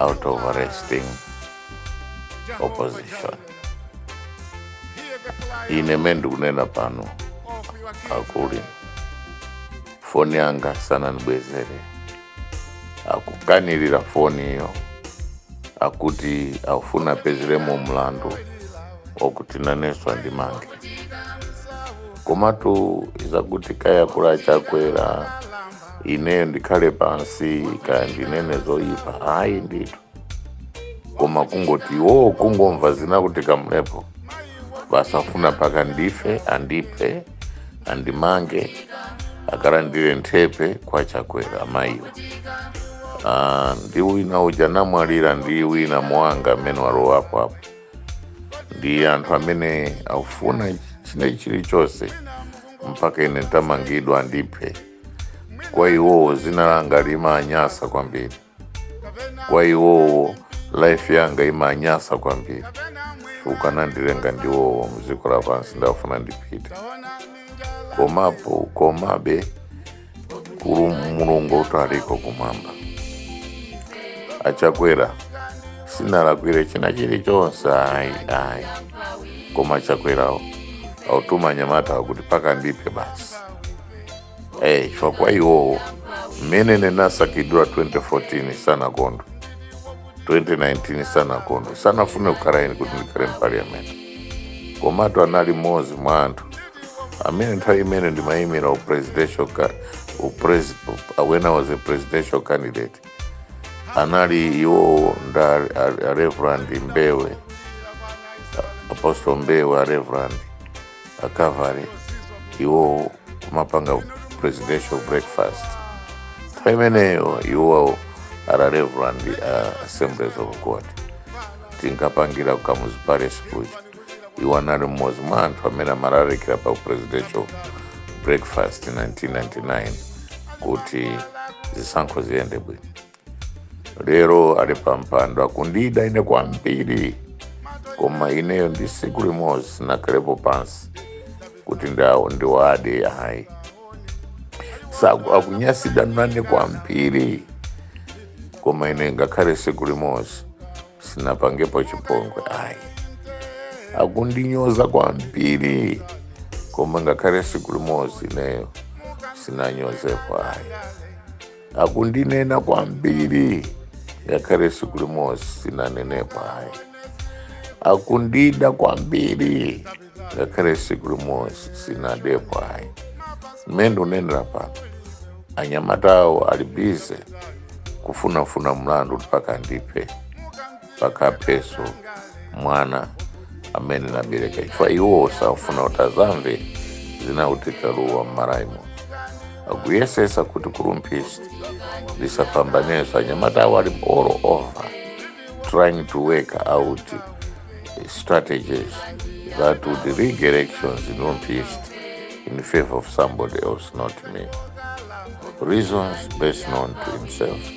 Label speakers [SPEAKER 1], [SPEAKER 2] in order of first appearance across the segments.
[SPEAKER 1] out of arresting opposition. Ine mmene ndikunena pano akuli foni yanga sanandibwezere akukanirira foniyo akuti akufuna apezeremo mlandu wakuti nanenso andimange komatu zakuti kaya kuda achakwera ineyo ndikhale pansi kaya ndinene zoyipa ayi ndithu koma kungoti iwowo kungomva zina kuti kamlepo basi afuna mpaka ndife andiphe andimange akalandire nthepe kwa chakwera amayiwo Ah, ndi wina uja namwalira ndi wina mwanga amene walowapo apo ndi anthu amene akufuna china chilichonse mpaka ine nditamangidwa andiphe kwa iwowo zina langa limanyasa kwambiri kwa iwowo life yanga imanyasa kwambiri akanandilenga ndi iwowo mdziko lapansi ndafuna ndipite komapo komabe kuli mulungu kutaliko kumwamba achakwera sinalakwire china chilichonse ayi ayi koma achakwerawo akutuma anyamata kuti mpaka andiphe basi eyi chifukwa kwa iwowo mmene ndinasankhidwa 2014 sanakondwe 2019 sanakondwe sanafune kukhala ine kuti ndikhale mpaliyamenti komatu anali mmodzi mwa anthu amene nthawi imene ndimayimira upresidential ca- upres- up- when i was a presidential candidate anali iwowo ndi a- a reverend mbewe apostle mbewe a reverend a calvary iwo kumapanga presidential breakfast nthawi imeneyo iwowo ali reverend uh, assemblies of god tinkapangira ku kamuzu palace kuja iwo anali mmodzi mwa anthu amene amalalikira pa presidential breakfast 1999 kuti zisankho ziyende bwino lero ali pa mpando akundida ine kwambiri koma ineyo ndi siku limodzi sinakhalepo pansi kuti ndawo ndiwade ayi saku akunyansidwa nane kwambiri koma ine ngakhale siku limodzi sinapangepo chipongwe ayi akundinyoza kwambiri koma ngakhale siku limodzi ineyo sinanyozepo ayi akundinena kwambiri ngakhale siku limodzi sinanenepo ayi akundida kwambiri ngakhale siku limodzi sinadepo ayi mmene ndikunenera pano anyamatawo ali busy kufunafuna mlandu mpaka ndiphe mpaka apheso mwana amene nabereka chifukwa iwo sakufuna kuti azamve zina Uteka Luwa m'Malawi muno akuyesesa kuti ku Rumphi tisapambaneso anyamatawo ali all over trying to work out strategies that would rig elections in Rumphi East in favor of somebody else, not me. Reasons best known to himself.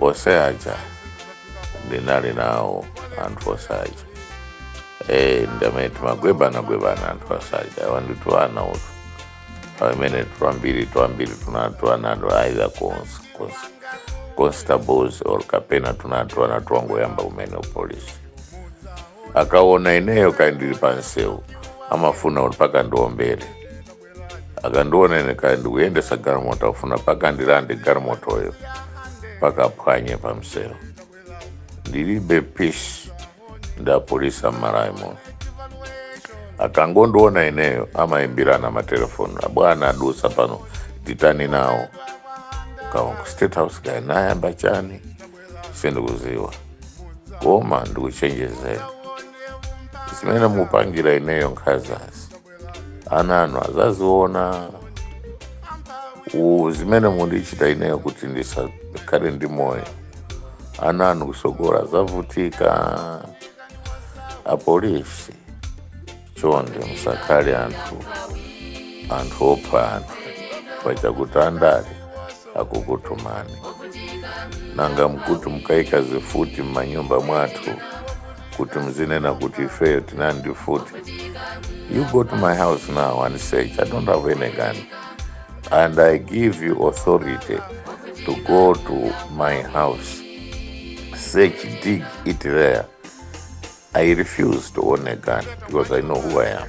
[SPEAKER 1] onse aja ndinali nawo anthu onse aja Eh, ndi amene timagwebana gwebana anthu onse aja awanditu ana uti amene twambiri twambiri tunali tuana either cons- cons- constables or kapena tunali tuana twangoyamba kumene upolisi akaona ineyo kaya ndili pamsewu amafuna kuti mpaka ndiombere akandiona ine kaya ndikuyendesa galimoto akufuna mpaka ndilande galimotoyo mpaka aphwanye pa mseu ndilibe peace ndi apolisi m'Malawi muno akangondiona ineyo amayimbirana matelefoni abwana adusa pano titani nawo kaya ku state house kaya nayamba chani sindikuziwa koma ndikuchenjezeni zimene mupangira ineyo nkhazazi ana anu azaziona U- zimene mundichita ineyo kuti ndisakhale ndi moyo ana anu kusogora azavutika apolisi chonde musakhale anthu opha anthu pachakuti andale akukutumani nanga nkuti mukaike zifuti m'manyumba mwathu kuti mzinena kuti ifeyo tinali ndi mfuti you go to my house now and search i don't have any gun and i give you authority to go to my house search dig it there i refuse to own a gun because i know who i am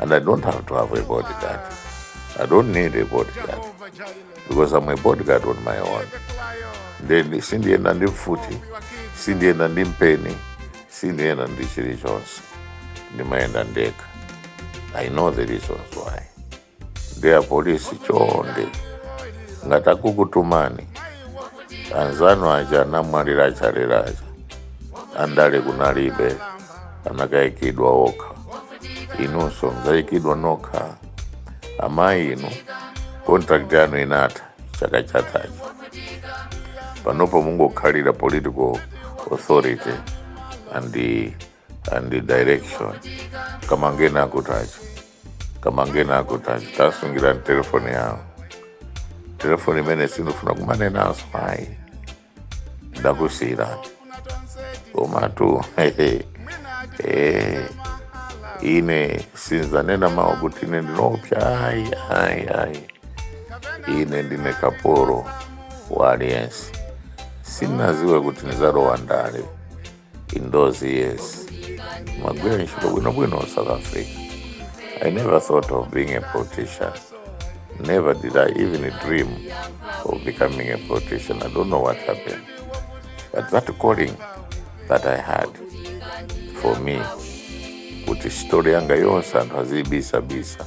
[SPEAKER 1] And I don't have to have a bodyguard. I don't need a bodyguard because I'm a bodyguard on my own. Then sindienda ndi mfuti, sindienda ndi mpeni, sindienda ndi chilichonse. Ndimayenda ndekha. I know the reasons why. Ndiye apolisi chonde. Ngati akukutumani, anzanu aja anamwalira achalera aja. Andale kunalibe. anakayikidwa okha inunso mudzayikidwa nokha amayi inu contract yanu inatha chaka chathachi panopa mungokhalira political authority and the, and the direction kamangena akutacho kamangena akutacho tasungira telefoni yawo telefoni imene sindifuna kumanena ayi ndakusiyirani komatu hehe, eh, ine sinzanena mawu kuti ine ndinopsa ayi ayi ayi ine ndine kapolo wa aliyense sinaziwe kuti nizalowa ndale in those years magwira ntchito bwinobwino south africa i never thought of being a politician never did i even dream of becoming a politician i don't know what happened but that calling that i had for me kuti story yanga yonse anthu aziyibisabisa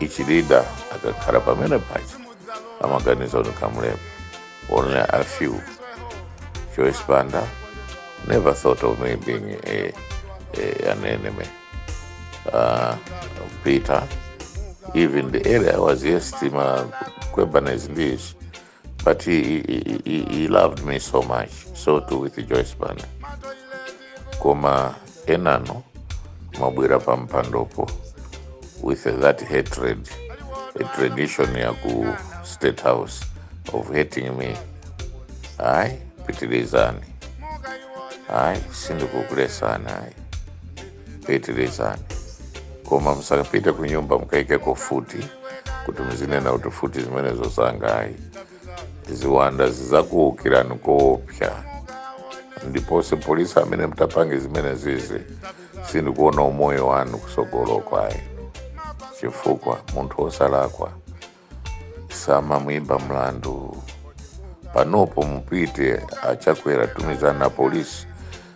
[SPEAKER 1] ichilida akakhala pamene paja amaganiza kuti kamulepo only a few joyce banda never thought of me being a, a, an enemy uh, peter even the area I was yes tima kwebanizi ndiishi But he, he, he, he loved me so much. So too with Joyce Banda. Koma enano mabwera pa mpandopo with that hatred, a tradition ya ku state house of hating me. Ayi, pitirizani. Ayi, sindikukulesani ayi. pitilizani koma musapite ku nyumba mukaikeko futi kuti muzinena kuti futi zimenezo zosangayi ziwanda zizakuukirani koopsa ndiponso polisi amene mutapange zimenezizi sindikuona umoyo wanu kusogolo kwayi chifukwa munthu wosalakwa samamuimba mlandu panopo mupite achakwera tumizani polisi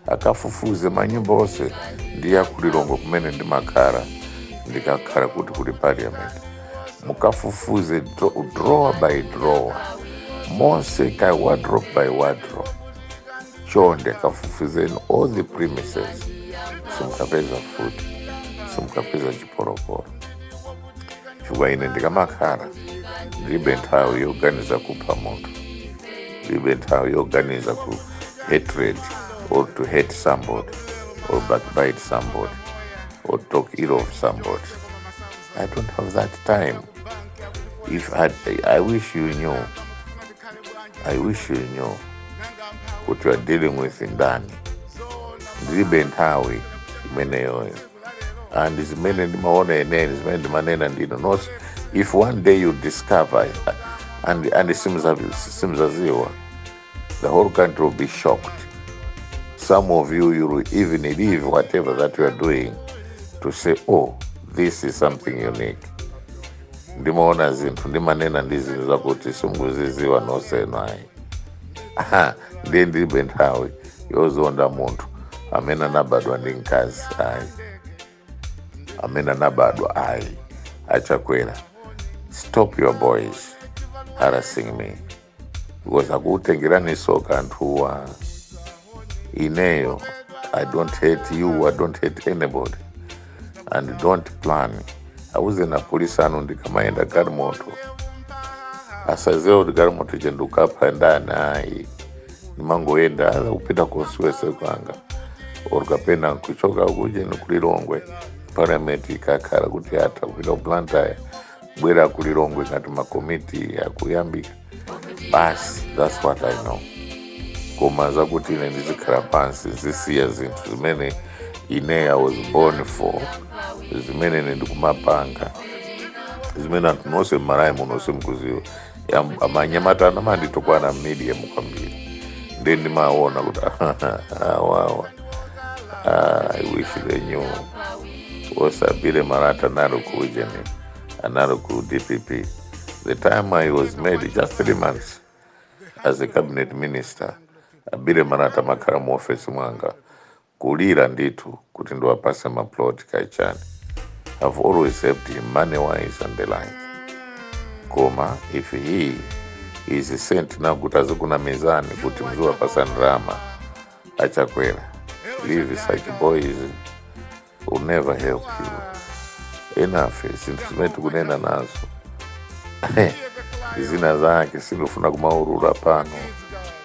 [SPEAKER 1] akafufuze manyumba onse ndi a ku Lilongwe kumene ndimakhala ndikakhala kuti kuli parliament mukafufuze dro- drawer by drawer monse ka wardrobe by wardrobe chonde kafufuzeni all the premises simukapeza futi simukapeza chipolopolo chifukwa ine ndikamakhala ndilibe nthawi yoganiza kupha munthu ndilibe nthawi yoganiza ku hatred or to hate somebody or backbite somebody or talk ill of somebody i don't have that time if i, I wish you knew kuti you are dealing with ndani ndilibe nthawi imeneyoyo and zimene ndimaona ine ne zimene ndimanena ndinu not if one day you discover and, and simzaziwa the whole country will be shocked some of you you will even leave whatever that you are doing to say oh this is something unique ndimaona zinthu ndimanena ndi zinthu zakuti simukuziziwa noseno ayi ndiye ndilibe nthawi yozonda munthu amene anabadwa ndi mkazi ayi amene anabadwa ayi achakwera stop your boys harassing me because akutengerani soka anthuwa ineyo i don't hate you i don't hate anybody and don't plan auze na polisi anu ndikamayenda galimoto asaziwe kuti galimoto ije ndikukapita ndani ayi ndimangoyenda ola kupita constituency kwanga or kapena nkuchoka kuje nikulilongwe parliament ikakhala kuti atha kupita ku blantyre kubwera ku lilongwe ngati makomiti akuyambika basi that's what i know koma zakuti ine ndizikhala pansi zisiya zinthu zimene ine i was born for zimene ine ndikumapanga zimene anthu nonse mmalayi muno nonse mukuziwa Am- amanyamata anamanditukwana media mu kwambiri ndi ndimaona kuti awawa i wish they knew osabile marata anali ku ujeni anali ku dpp the time i was made just three months as a cabinet minister abile marata amakhala mu office mwanga kulira ndithu kuti ndiwapase ma plot kaya chani i've always helped him money wise and the like koma if he is sent now kuti azikunamizani kuti muziwapasa ndalama achakwera leave such boys will never help you enough zinthu zimene tikunena nazo zina zake sindifuna kumaulula pano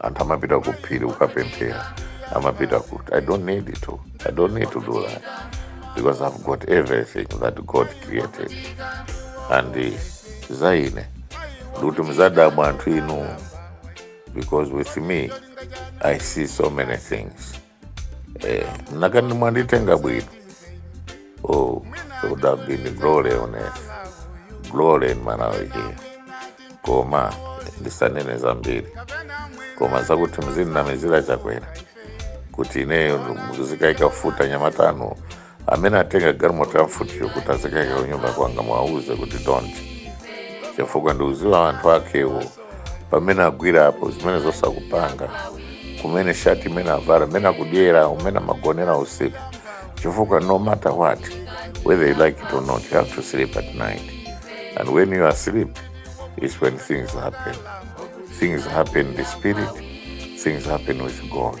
[SPEAKER 1] anthu amapita ku phiri kukapemphera amapita kuti i don't need to i don't need to do that because i've got everything that god created and eh, za ine ndikuti mzadabwa anthu inu because with me i see so many things Eh, mukanandi mwanditenga bwino. Oh, it would have been glory on earth. Glory in Malawi here. Koma ndisanene zambiri. Koma zakuti muzinamizira Chakwera. Kuti ineyo muzikaika mfuti anyamata anu amene atenga galimoto ya mfutiyo kuti azikaika kunyumba kwanga mwauze kuti don't chifukwa ndiuziwa anthu akewo pamene agwira apo zimene zonse akupanga kumene shati imene avara mmene akudyera mmene amagonera usiku chifukwa no matter what whether you like it or not you have to sleep at night and when you are asleep is when things happen things happen in the spirit things happen with god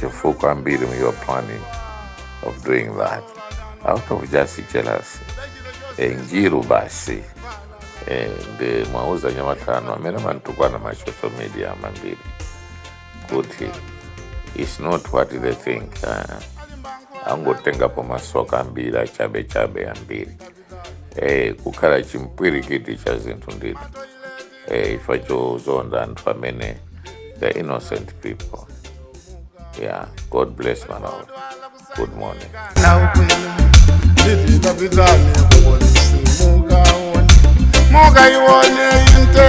[SPEAKER 1] Chifukwa ambiri you're planning of doing that. Out of just jealousy. Eh, Njiru basi. Eh, nde muwauze anyamata anu amene amantukwana ma social media mambiri kuti it's not what they think. Uh, angotengapo masoka ambiri achabechabe ambiri eh, kukhala chimpwirikiti cha zinthu ndithu eh, imfa yozunza anthu amene the innocent people yeah god bless Malawi good morning Muga iwone inte